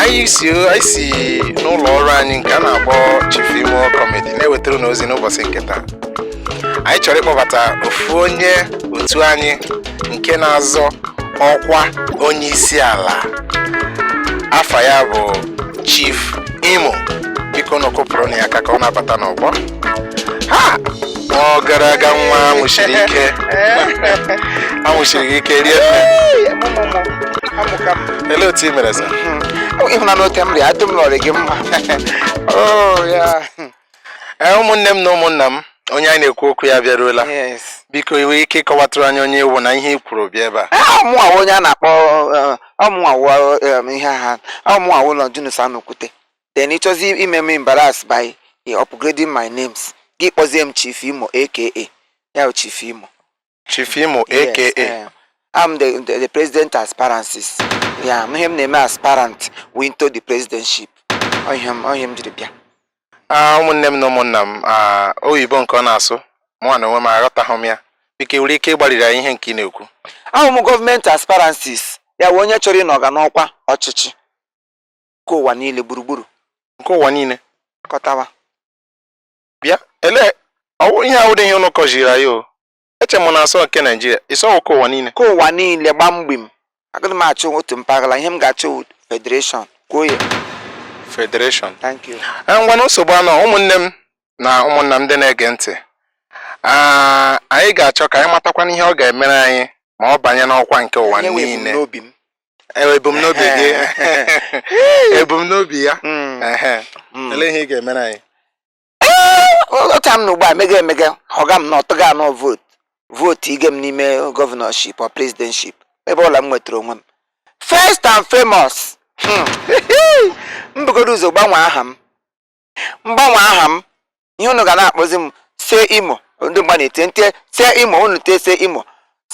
anyị si n'ụlọ ọrụ anyị nke a na-akpọ Chief Imo Comedy na-ewetara unu ozi n'ụbọchị nke taa anyị chọrọ ịkpọbata ofu onye otu anyị nke na-azọ ọkwa onye isi ala afa ya bụ Chief Imo bikonụ kụpụrụnụ ya aka ka ọ na-abata n'ọgbọ ha ọ gara aga nwa anwụchiri ike anwụchiri gị ike rie nne ele otu i mere sa ịhụnanụ oke m rịa adị m nọrị gị mma Oh, yeah. Ee, ụmụnne m na ụmụnna m onye anyị na-ekwu okwu ya bịaruola Yes. biko i nwere ike ịkọwatụrụ anyị onye ị wụ na ihe i kwuru bịa ebe a Ah, mụnwa wụ onye a na-akpọ ọ mụnwa wụ ihe a ọ mụnwa wụ Longinus Anokwute then ị chọzi ime m embarrass by eh, upgrading my names gị kpọzie m Chief Imo aka ya bụ Chief Imo Chief Imo Yes, aka eh, I'm the, the, the president aspirances ya wụ ihe m na-eme aspirant into the presidentship Ọ ihe m ọ ihe m jiri bịa Ah, ụmụnne m na ụmụnna m ah, oyibo nke ọ na-asụ mụnwa na onwe m aghọtaghị m ya biko ị nwere ike ịgbariri anyị ihe nke ị na-ekwu awụ m gọọmenti aspirances ya bụ onye chọrọ ịnọ ọga n'ọkwa ọchịchị nke ụwa niile gburugburu nke ụwa niile kọtawa bịa ele ọ wụ ihe awụdị ihe ụnụ kọziri anyị o eche m na a sị ọ nke naijiria ị sị ọ nke ụwa niile nke ụwa niile gba mgbim agaghị m achị otu mpaghara ihe m ga-achị federation kwuo ya federation thank you eh, ngwanụ nsogbu anọ ụmụnne m na ụmụnna m ndị na-ege ntị ah, anyị ga-achọ ka anyị matakwanụ ihe ọ ga-emere anyị ma ọ banye n'ọkwa nke ụwa niile Eh, ebumnobi gị ebumnobi ya hmm. Hmm. olee ihe ị ga-emere anyị eh, otu m na ugbu a mega emega ọga m na ọtụga anọ vootu vootu ige m n'ime gọvanọship or prezidenship ebe ọ wụla m nwetara onwe m first and famous hmm. m bugodu ụzọ gbanwee aha m m gbanwee aha m ihe unu ga na-akpọzi m see imo ndị mgba na-eti see imo unu tie see imo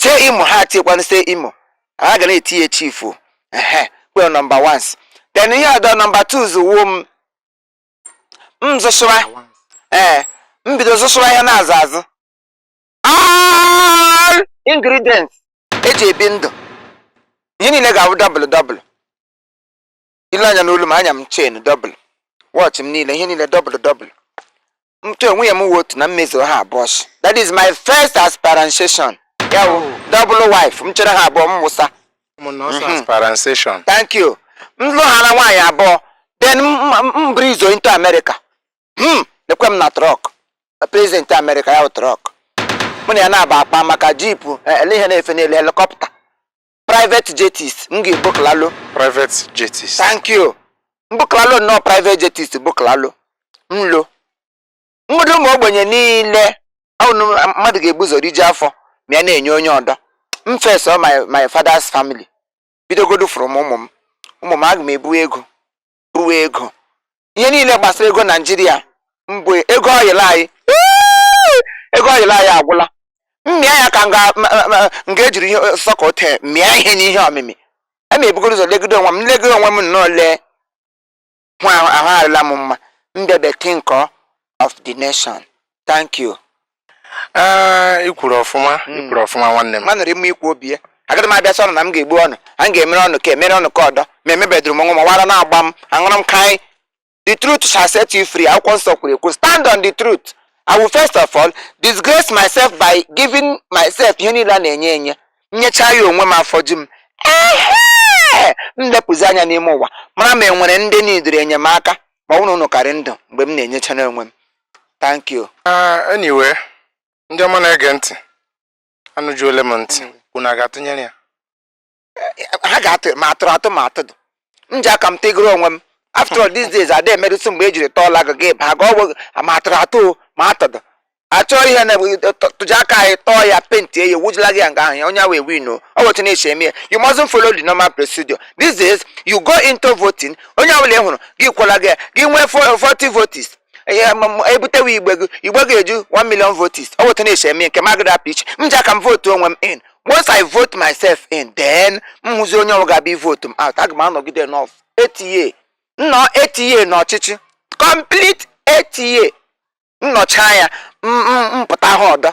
see imo ha tiekwanụ see imo ha ga na-etinye chifu ehe kwe nọmba wans then ihe ọdọ nọmba tuuz wụ m m zụsụra ee m bido zụsụra ihe a na-azụ azụ all ingredients e ji ebi ndụ ihe niile ga-abụ dọbụlụ dọbụlụ i lee anya n'olu m anya m chen dọbụl wọchị m niile ihe niile dọbụl dọbụl ma nwunye m wụ otu na m mezuo ha abụọ shi that is my first aspiration ya wụ dọbụl wife m chịrị ha abụọ m wụsa ụmụnna ọsọ Mhm. asparanseshọn thank you m lụhaala nwaanyị abụọ then m- m breeze into america hmm lekwe m na trọk prezident america ya wụ trọk mụ na ya na-aba akpa maka jipu ele ihe na-efe n'elu helikọpta private jets m ga-ebukọlaa ụlọ private jets thank you m bukọlaa ụlọ nnọọ private jets bukọlaa ụlọ nlo mmadụ ụmụ ogbenye niile mmadụ ga-ebu ụzọ riju afọ ma ya na-enye onye ọdọ m first of my father's family bidogodu from ụmụ m ụmụ m aga m ebu ego bu ego ihe niile gbasara ego naijiria mbụ ego oil anyị Ee! ego oil anyị agwụla m mịa ya ka m ga- ma- ma- ma- m ga-ejiri ihe sọka ote mịa ihe n'ihe ọmịmị aga m ebugodu ụzọ legide onwe m legide onwe m nnọọ lee hụ ahụ ahụ arịla m mma mbebe think of the nation thank you ee i kwuru ọfụma i kwuru ọfụma nwanne m manụ rị mma ikwu obi ya agaghị m abịa sị unu na m ga-egbu unu a m ga-emere unu nke a emere unu nke ọdọ ma emebedụrụ m onwe m ọ wụ ara na-agba m aṅụrụ m kaị the truth shall set you free akwụkwọ nsọ kwuru ekwu stand on the truth i will first of all disgrace myself by giving myself ihe niile a na-enye enye m nyecha ya onwe m afọ ju m ehe m lepụzi anya n'ime ụwa mara ma enwere ndị nidiri enyemaka ma ọ bụrụ na unu ka rị ndụ mgbe m na-enyechana onwe m thank you ah, anyway ndị ọma na-ege ntị anụjuole m ntị unu a ga-atụnyere ya eh, ha ga-atụ ma atụrụ atụ ma atụdị m ji aka m tegoro onwe m after all these days ada emerụsị mgbe ejiri tọọla gị gị ba ga ọgwụ ma atụrụ atụ ma atụdụ achọọ ihe na tụja aka anyị tọọ ya paint ya wujula gị ya nga ahụ ya onye awa ewin ọ wụ etu a na-esi eme ya you mustn't follow the normal procedure these days you go into voting onye ọbụla ị hụrụ gị kwala gị gị nwee 40 votes ebutewe igbe gị igbe gị eju 1 million votes ọ wụ etu a na-esi eme nke m agadị apụ iche m ji aka m votu onwe m in once i vote myself in then m hụzi onye ọ wụ ga-abịa ivotu m out aga m anọgide n'ọf 8 years m nọọ 8 years n'ọchịchị complete 8 years m nọcha ya m pụta ha ọdọ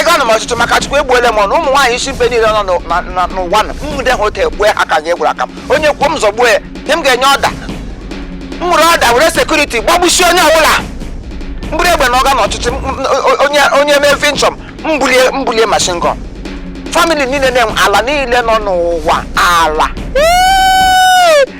ego ana m ọchịchị maka chukwu egbuole m unu ụmụ nwaanyị isi mpe niile nọ n'ụwa m nwude ha otu egbue ha ka ga-egburu aka m onye kwuo m zọgbuo ya nye m ga-enye ọda m nwere ọda were sekuriti gbagbusie onye ọbụla m buru egbe na ọga na ọchịchị onye mee finchọm m bulie machine gun famili niile na ala niile nọ n'ụwa ala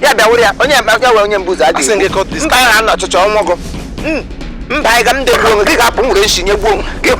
ya bịa wụrụ ya onye mkpa ya wee onye mbụzọ adịghị Asị gị cut this mba ya na ọchịchọ ọnwụ gụ mba anyị ga m degbuo onwe gị ga-apụ nwere nshi nye gbuo onwe gị